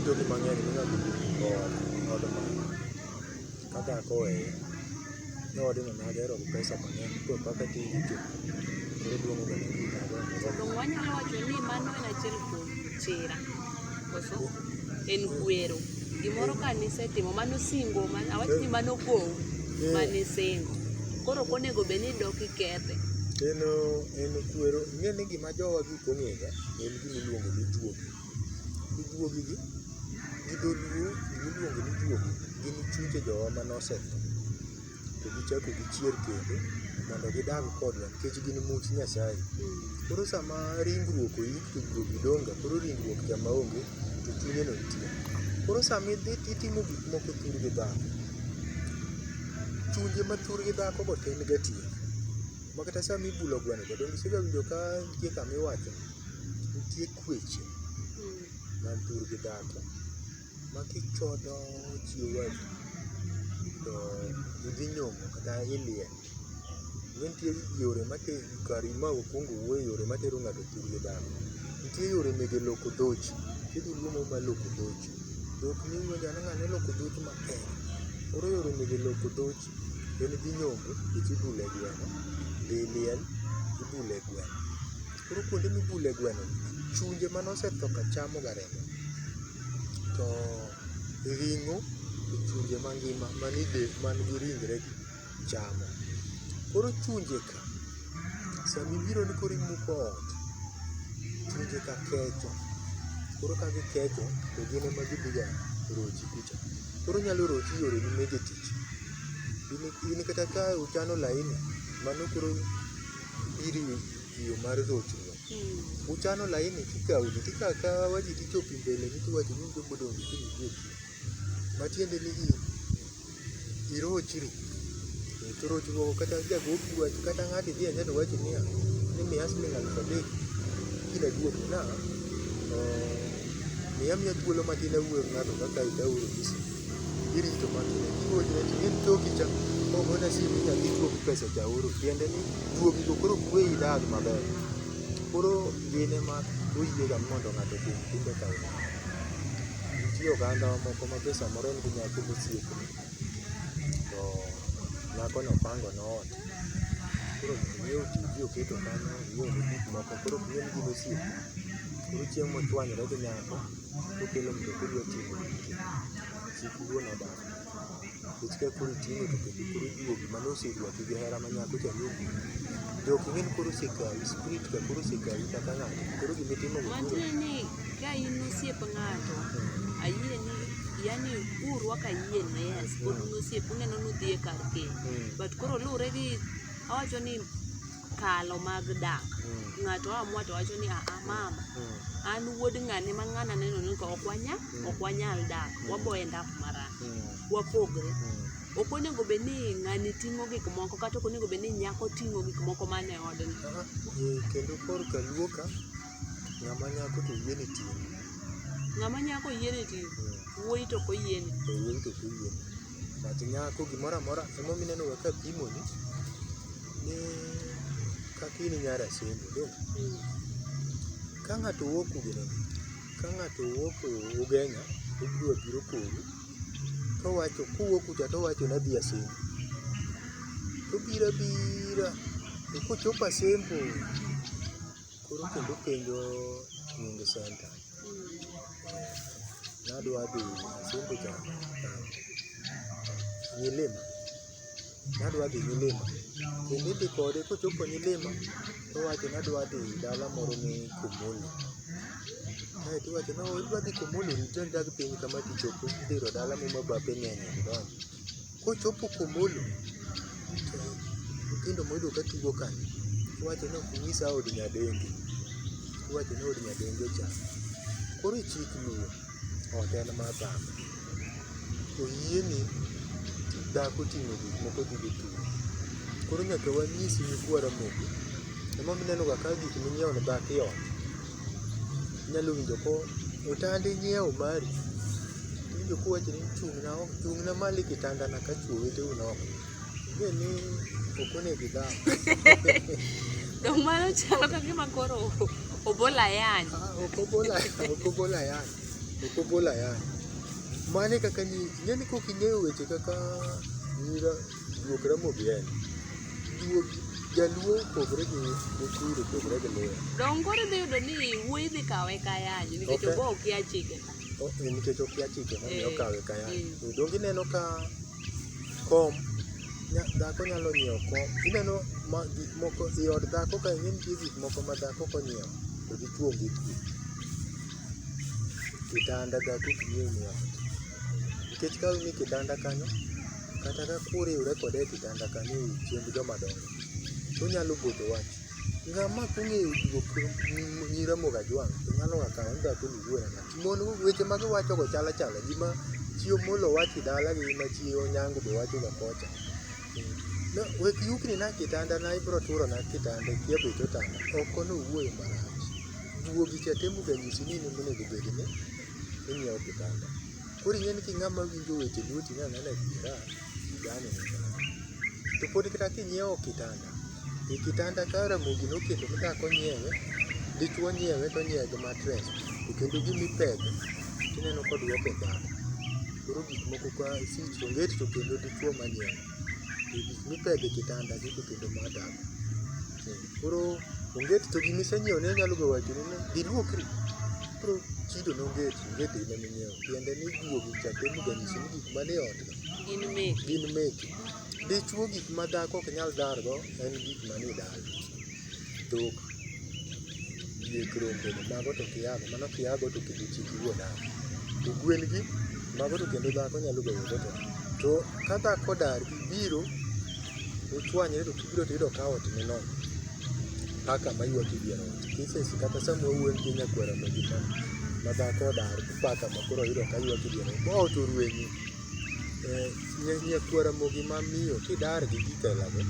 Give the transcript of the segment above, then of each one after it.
Jogi mang'eny minyalo yudo kod od mama kaka koweye ni wadino nagero gi pesa mang'eny koro kaka ti yuto koro duong' oganda gi Donge wanyalo wacho ni mano en achiel kuom chira. koso en kwero gimoro ka nisetimo mano singo man- awach ni mano gowu mane singo koro ok onego bed ni dok ikethe en en kwero ing'e ni gima jowa gik ong'ega en gima iluongo ni juogi to juogi gi gi dholuo gima iluongo ni juogi gin chuche jowa mane osetho to gichako gichier kendo mondo gidag kodwa nikech gin much Nyasaye. Koro sama ringruok oyik to guogi dong' ga, koro ringruok cha ma onge to chunye no nitie. Koro sama idhi to itimo gik moko thur gi dhano, chunje ma thur gi dhako go to en ga tie. Ma kata sama ibulo gweno cha, donge isega winjo ka nitie kama iwacho ni nitie kweche man thur gi dhako. Makichodo chiwo ywagi to idhi nyombo kata iliel. Kendo nitie yore matero kar ma wakwongo wuoye yore matero ng'ato e thurgi dhano. Nitie yore mege loko dhochi, nitie dholuo moro mar loko dhochi. Dhok miwinjo ni ng'ano ng'ane loko dhochi maber. Koro yore mege loko dhochi en idhi nyombo nikech ibulo e gweno, dhi liel ibulo e gweno. Koro kuonde mibule gweno gi, chunje mane osetho ka chamo ga remo. To ring'o to chunje mangima man e del, man gi ringre gi chamo. Koro chunje ka, sama ibiro ni koro imuko ot, chunje ka kecho. Koro ka gikecho to gin ema gidhi ga rochi kucha. Koro onyalo rochi e yore gi mege tich. In kata ka uchano laini, mano koro iriwe tiyo mar rochruok. Mm. Uchano laini kikawo ji tikawo kawa ji tichopo mbele ni tiwacho ni jogo odong' gi kiny wuok. Matiende ni i irochri. To rochruok kata jagopi wach kata ng'ato idhi anyalo wacho niya ni miya siling alufu adek kila duogo na eh, miya miya thuolo matin awuoyo gi ng'ato kaka itauro gi simu. Hili ndio maana tunakiwa tunatumia mtoki cha kwa mbona si mimi ndio kwa pesa cha uru. Tiende ni duo kigo koro kwe idadi maber. Koro yene ma uyiye ga mondo ng'ato kuom timbe ka uru. Nitie oganda moko ma pesa moro en gi nyako mosiepo. To nyako no pango no ot. Koro nyiewo TV oketo kanyo, nyiewo gik moko. Koro nyiewo gik mosiepo. Koro chieng' mochwanyore gi nyako Kokelo mtoka odwa ting'o gike, chik wuon odagi. Nikech ka koro iting'o to kendo koro ijuogi mane oseywagi gi hera ma nyako cha ne ogik. To ok ing'e ni koro osekawi, spirit cha koro osekawi kata ng'ato. Koro gima itimo go koro. Wachre ni ka in osiep ng'ato, ayie ni yani urwako ayie ni yes, pod un osiep uneno ni udhi e kar keny. Mm. But koro luwre gi awacho ni kalo mag dak. Mm. Ng'ato amua to wacho ni a ah, ah, mama mm. an wuod ng'ane ma ng'ana neno ni ka ok wanya mm. ok wanyal dak mm. wabo end up marach mm. wapogre mm. ok onego bed ni ng'ani ting'o gik moko kata ok onego bed ni nyako ting'o gik moko man e odni eh, kendo korka luoka ng'ama nyako to yie ni ting'o ng'ama nyako yie ni ting'o mm. wuoyi to ok oyieni eh, wuoyi to ok oyieni But nyako gimoro amora ema omiyo ineno ka apimoni ni kaka in nyar Asembo dong'. Ka ng'ato wuok Ugenya, ka ng'ato wuok Ugenya obiro biro kodu to owacho kowuok kucha to owacho ni adhi Asembo. To obiro abira to kochopo Asembo Koro kendo penjo Nyundo Center. Nadwa dhi Nyasungu cha. Nyilima. Nadwa dhi Nyilima. Kendo idhi kode kochopo Nyilima to wacho nadwa dhi dala moro ni Kumuli. Kae to iwacho no idwa dhi Kumuli rit dak piny kama tichopo idhiro dala muma bape ng'eny. Kochopo komolo to nyithindo moyudo ka tugo ka iwacho ni ok inyisa od nyadendi, iwacho ni od nyadendi ocha. Koro ichik luwo ot en mar dhako. Oyieni dhako ting'o gik moko dhi go tugo. Koro nyaka wanyis nyikwa Ramogi. Emomiyo inenoga ka gik minyiewo ne dhako iolo. inyalo winjo ko otandi nyiewo mari, iwinjo kowacho ni chung'na oko, chung'na malo e kitanda na ka chwo weteu ni oko. Ing'e ni ok onego idhao. Dong' mano chalo ka gima koro obol ayany. Ah, ok obol ayany, ok obol ayany, ok obol ayany. Mano e kaka ni, ing'e ni kok ing'eyo weche kaka nira. Juok Ramogi en. Juok jaluo opogore gi Mukuru opogore gi Luo. Donge koro idhi yudo ni wuoyi dhi kawe kayanyo nikech Okay. obo okia chike ka. O- eh, Nikech okia chike Eh, momiyo okawe kaya. eh. Donge ineno ka kom nya- dhako nyalo nyiewo kom. Ineno ma gik moko i od dhako ka ing'e nitie gik moko ma dhako konyiewo to dichwo onge kuwe. Kitanda dhako ok nyiew nyiewo. Nikech ka ni kitanda kanyo kata ka kuriwre kode e kitanda ka ni chiemb joma dongo, tonyalo boto wach. Ng'ama kong'eyo juok nyi Ramogi Ajwang' to nyalo ga kawe ni to akono iwuor ang'o. Mon weche ma giwacho go chal achala gi ma chi Omollo wacho e dala gi ma chi Onyango be wacho ga kocha. No, wek yukni na kitanda na ibro turo na kitanda ikia bech otanda. Oko ni owuoyo marach. Juogi cha temo ga nyisi ni in ema onego bed ni inyiewo kitanda. Koro ing'e ni king'ama winjo weche lueti ni anena adiera, igane. To pod kata kinyiewo kitanda, e kitanda ka Ramogi noketo ni dhako nyiewe, dichwo nyiewe to onyiewe gi matres, to kendo gima ipedho tineno koduoke dhako. Koro gik moko ka sich onget to kendo dichwo ema nyiewe. To gik mipedho e kitanda gi to kendo ma dhako. Koro onget to gima isenyiewone nyalo be wachoni ni dhi luokri. Koro chido no onget. Gidhi ime minyiewo. Tiende ni juogi cha temo ga nyisi ni gik manie otno Gin meki. gin meki. Dichwo gik ma dhako ok nyal dargo en gik manie dala. Dhok, diek, rombe, mago to kiago, mano kiago to kendo chik wuo dala. To gwen gi, mago to kendo dhako nyalo goyo go to. To ka dhako odar gi biro, uchwanyre to kibiro to iyudo ka ot ni nono. Paka ma ywak e dier ot. Cases kata sama wuond gi nyakwera ma gima ma dhako odar paka ma koro yudo ka ywak diere ma ot orwenyi eh, nya- nyakwera mogi ma miyo kidar gi gitelago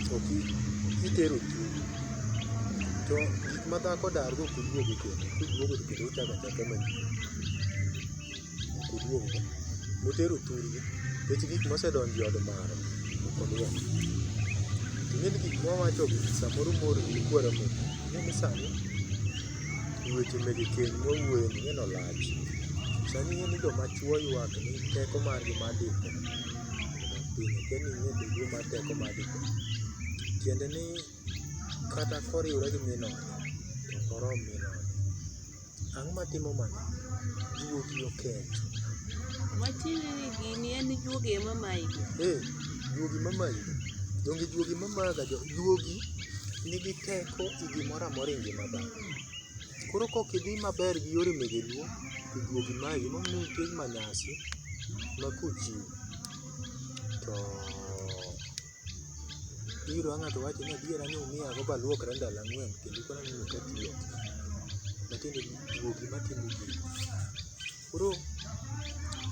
to ki- kitero chunyi to gik ma dhako dargo kuduogo kendo kuduogo to kendo uchako achaka manyien oduong'go, motero thurgi, nikech gik mosedonjo e od mare ok odwok. Ting'e ni gik mwawachogi samoro moro ji kwero piny, ting'e ni sani weche mege keny mwawuoyoe ni ng'eno lach. Sani ing'e ni joma chwo ywak ni teko margi mar dipo odok piny, okia ni ing'e duduo mar teko mar dipo. Tiende ni kata koriwre gi min ode, to ok orom min ode. Ang'o ma timo mano? Juogi okecho. Watieni ni gini en juogi ema mayi go. Eh, juogi ma mayi go. Donge juogi ma maga jo juogi nigi teko e gimoro amora e ngima dhano. Koro kok idhi maber gi yore mege luo to juogi mayi go. Emomiyo nitie manyasi ma kochiw to Biro ang' to owacho ni adiera ni umiya go baluokra ndalo ang'wen kendo koro aneno ka pi ok matiende ni juogi matimo gini. Koro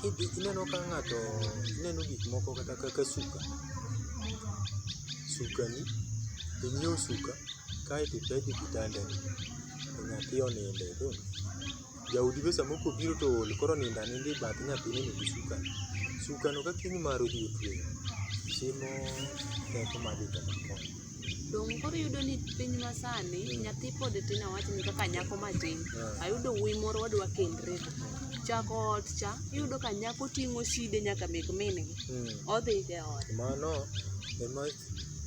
kidhi ineno ka ng'ato ineno gik moko kata kaka suka, sukani, inyiew suka kaeto ipedh e kitandani to nyathi oninde. Jaodi be samoro kobiro to ool koro onindo aninda e bath nyathine ni gi sukani. Sukano ka kiny mare odhi otweyo, timo teko mar dhi to makony. Donge koro iyudo ni piny masani nyathi pod tin awachni kaka nyako matin, Ah. ayudo wuoyi moro wadwa kendre go. Chako ot cha, iyudo ka nyako ting'o shide nyaka mek min gi. Mm. Odhi e ot. Mano ema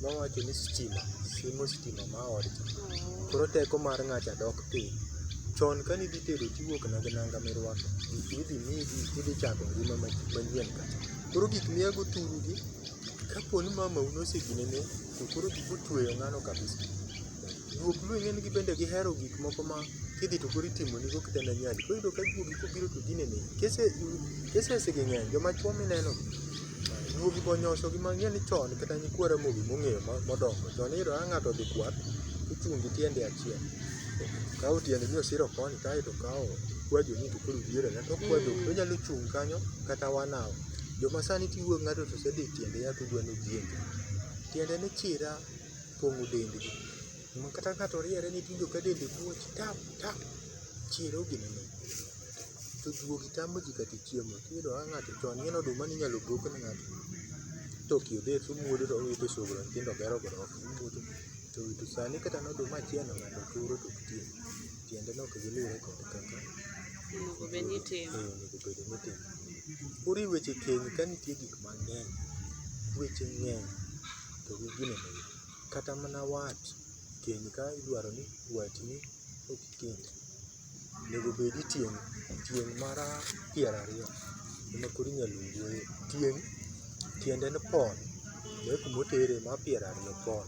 mawacho ni stima, simo stima ma odcha. Koro teko mar ng'acha dok Piny. Chon ka ne idhi tedo to iwuok mana gi nanga ma irwako, gik ma idhi miyi gi idhi chako ngima manyien ka. Koro gik ma iago thuru gi, ka po ni mamau ne ose gine ne to koro gik otueyo ng'ano kabisa. Juog Luo ing'e ni gin bende gihero gik moko ma kidhi to koro itimo ni go kata ne nyadi. Koro iyudo ka juogi kobiro to gine negi. Cases gi ng'eny, joma chuo mineno gi. Nyuogi go nyosho gi ma ng'eni chon kata nyikwa Ramogi mong'eyo ma- modongo chon iyudo ka ng'ato odhi kwath ochung' gi tiende achiel kawo tiende ni osiro koni kae to kawo kwajo ni to koro diere na to kwajo Mm. onyalo chung' kanyo kata one hour joma sani tiwuo gi ng'ato to osedhi tiende yath odwa ni ojienje tiende ni chira pong'o dendgi Ma kata ng'ato riere ni tiwinjo ka dende muoch tap tap, chir ogini ni. To juogi tamo ji kata chiemo, tiyudo ka ng'ato chon ineno oduma ne inyalo bok ne ng'ato to ok yudre to omuodo to owito e sogro nyithindo gero godo ot, omuodo. To to sani kata ne oduma achiel no ng'ato turo to ok tiek, tiende ni ok gilure kod kaka Onego bed ni itimo. eh, onego bed ni itimo. Koro e weche keny ka nitie gik mang'eny, weche ng'eny to gi gini ni. Kata mana wat keny ka idwaro ni watni kik kend, onego bedi tieng' tieng' mara piero ariyo ema koro inyalo wuoye. Tieng' tiende ni pon, be kuma otere ma piero ariyo pon.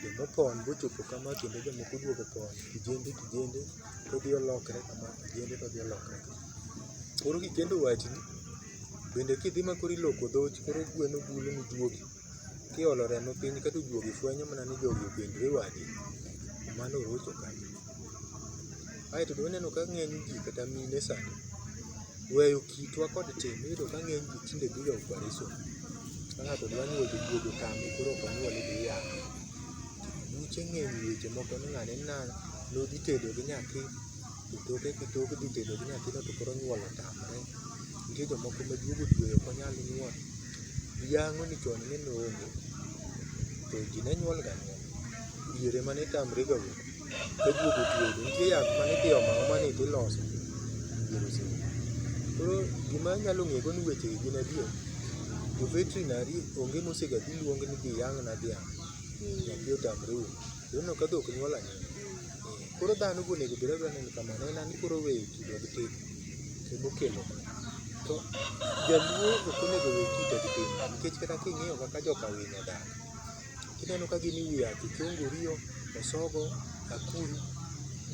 Joma opon be ochopo kama kendo jomoko oduogo opon kijende kijende todhi olokre kama kijende todhi olokre kama. Koro kikendo watni, bende kidhi ma koro iloko dhochi koro gweno golo ni juogi. Kiolo remo piny ka to juogi fwenyo mana ni jogi opendre wade, mano orocho kanyo. Aeto be waneno ka ng'eny ji kata mine sani weyo kitwa kod tim, iyudo ka ng'eny ji tinde dhiga opereson. Ka ng'ato dwa nyuol to juogi otame koro ok onyuol idhi yang'e. Buche ng'eny weche moko ni ng'ane ni nang' nodhi tedo gi nyathi to toke to tok dhi tedo gi nyathino to koro nyuol otamre. Nitie jomoko ma juogi otweyo ok onyal nyuol. Yango ni chon ne noonge to ji ne nyuol ga anyuola. Diere ema ne tamre ga wuok. Ka juogo ojuogo nitie yath mane idhi omo aoma ni idhi loso diere oserumo. Koro gima anyalo ng'ego ni weche gi gin adier. Jo veterinary onge mose ga dhi luong ni dhi yang'na dhiang'. Nyathi otamre wuok. Koro ineno ka dhok nyuol anyuola. Ee. Koro dhano be onego obed abeda ni kamano en an koro oweyo kite gi tim ema okelo mano. To jaluo ok onego owe kite gi tim nikech kata ka ing'iyo kaka joka winy odak, ineno ka gin e wi yath ochongo oriyo, osogo, akuru,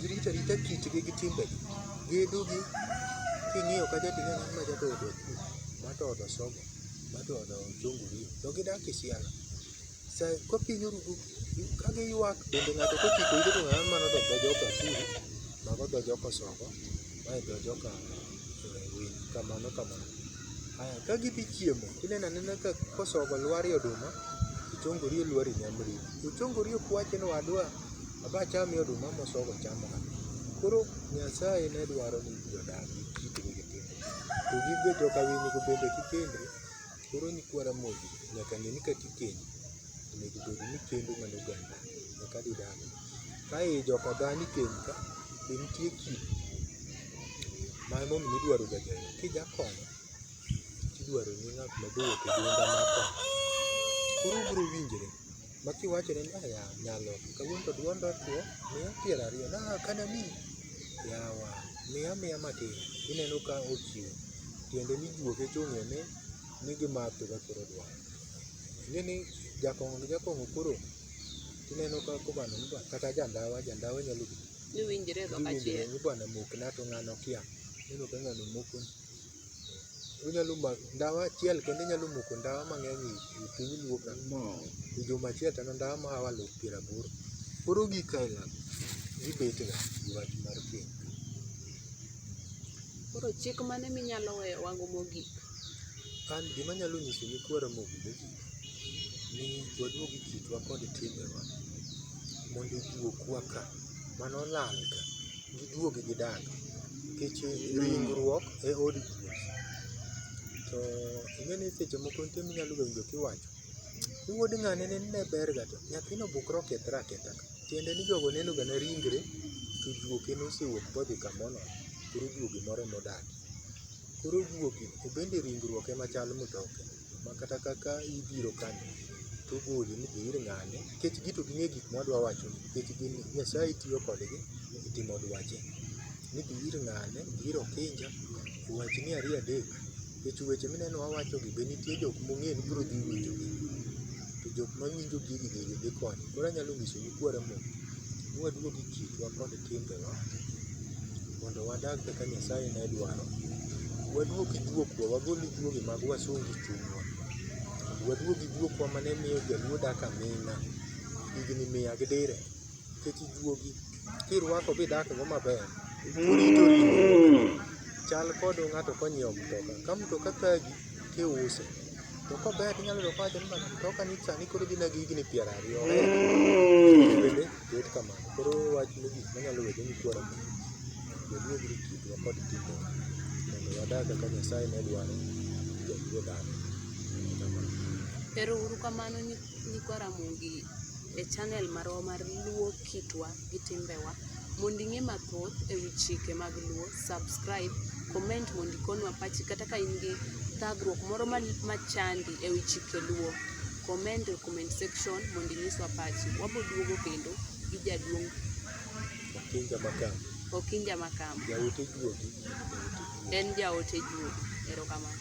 girito arita kitgi gi timbegi. Gedo gi king'iyo kacha to ineno ma jaga oode akuru, ma to oode osogo, ma to oode ochongo oriyo to gidak e siala. Sai kopinyo rudu ka giywak bende ng'ato kochiko ite to ng'ano mano dho joka Kuru, mago dho joka Osongo, mae dho joka Winy, kamano kamano. Aya, ka gidhi chiemo, ineno anena ka kosongo lwarie oduma, ochongori olwari nyamri. Ochongori ok wachi ni wadwa, aba achame oduma mosongo chamo ka. Koro Nyasaye ne dwaro ni ji odag gi kitgi gi timbegi. To gin be joka Winy go bende kikendri, Koro nyikwa Ramogi nyaka ng'e ni ka gikendo onego bed ni kendo mana oganda eka gidagi. Ka ei joka dhani kendo ka be nitie kido ma emomiyo idwaro ga jayuoyi. Kijakomo tidwaro ni ng'at ma jowuok e duonda ma konyo. Koro ubiro winjre ma kiwachone ni aya nyalo kawuono to dwond otwo miya piero ariyo na ah, kana mi yawa miya miya matin ineno ka ochiwo tiende ni juoke chung'e ni ni gimatho ka koro dwaro ing'e ni jakong'o gi jakong'o koro ineno ka kobano ni bwana- kata jandawa jandawa nyalo Niwinjre e dhok achiel. ni bwana mokna to ng'ano kia ineno ka ng'ano mokoni Onyalo mako ndawa achiel kende nyalo moko ndawa mang'eny e piny luo ka. E juma achiel to en ndawa ma hawa loo piero aboro. Koro gik aila go gibet ga gi wach mar keny. Koro chik mane minyalo weyowa go mogik? An gima anyalo nyiso nyikwa Ramogi mogik ni waduog e kitwa kod timbewa mondo ojuok wa ka. Mane olal ka. giduogi gidag nikech ringruok e od ruoth. To ing'e ni seche moko nitie minyalo ga winjo kiwacho ni wuod ng'ane nende ne ber ga to nyathino obukre okethre aketha ka. Tiende ni jogo neno ga ne ringre to juoke nosewuok modhi kamoro nono koro juogi moro emodakie. Koro juogi to bende ringruok ema chal mtoke. ma kata kaka ibiro kan tugul ni ir ng'ane nikech gito ging'e gik mwa dwa wacho nikech gin Nyasaye tiyo kodgi e timo dwache. Ni dhi ir ng'ane, dhi ir Okinja, wachni ariyo adek nikech weche mineno wawachogi be nitie jok mong'e ni biro dhi winjogi. To jok mawinjo gigi gigi dhi konyo. Koro anyalo nyisou ni kwauru Mungu ni waduog e kitwa kod timbewa mondo wadag kaka Nyasaye ne dwaro. Waduog gi juokowa, wagol juogi mag wasungu e chunywa. Waduog gi juokowa mane miyo jaluo dak aming'a higni mia gi dire. Nikech juogi kirwako bidak go maber, chal kod ng'ato konyiewo mtoka. Ka mtoka thagi tiuse, to kober tinyalo yudo kowacho ni mtoka ni sani koro dhi na gi higni piero ariyo. Bet kamano. Koro wach mogik manyalo wede ni kwara mondo waduog ri kitwa kod timbewa mondo wadag kaka Nyasaye ne dwaro jaluo dhano. Kamano. Ero uru kamano nyi- nyikwa Ramogi e channel marwa mar Luo Kitwa gi Timbewa. Mondo ing'e mathoth e wi chike mag Luo, subscribe, comment mondo ikonwa pachi kata ka in gi thagruok moro ma- machandi e wi chike Luo. comment e comment section mondo inyiswa pachi. Wabiro duogo kendo gi jaduong' Okinja Makam. Okinja Makam. Jaote Juogi. En jaote Juogi. Erokamano.